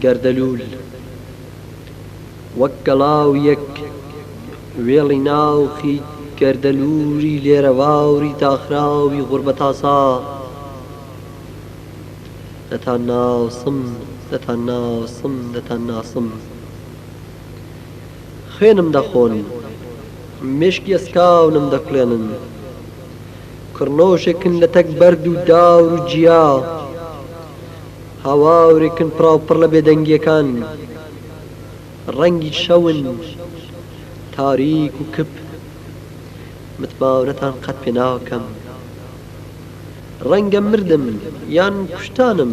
گەردەلوول وەک گەڵاویەک وێڵی ناوخی گەردەلوولی لێرەواوری داخراوی غوربەتاسا دەتان ناسم دەتان ناسم دەتان ناسم خوێنم دەخۆن، مێشکی ئەسکاونم دەکوڵێنن. کڕنۆشێکن لە تەک بەرد و دار و جیا. هاوارێکن پڕاوپڕ لە بێدەنگییەکان. ڕەنگی شەون، تاریک و کپ. متمانەتان قەت پێ ناکەم. ڕەنگە مردم یان کوشتانم.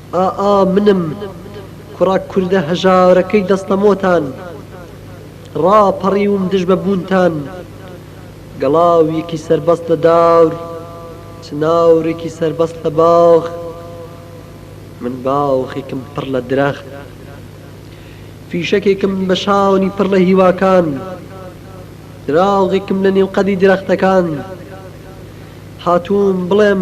ئا ئا منم کوڕە کوردە هەژارەکەی دەستەمۆتان ڕا پەڕیوم دژ بە بوونتان گەڵاویەکی سەربەست لە دار چناورێکی سەربەست لە باخ من باوخێکم پڕ لە درەخت فیشەکێکم بە شانی پڕ لە هیواکان دراوغێکم لە نێو قەدی درەختەکان هاتووم بڵێم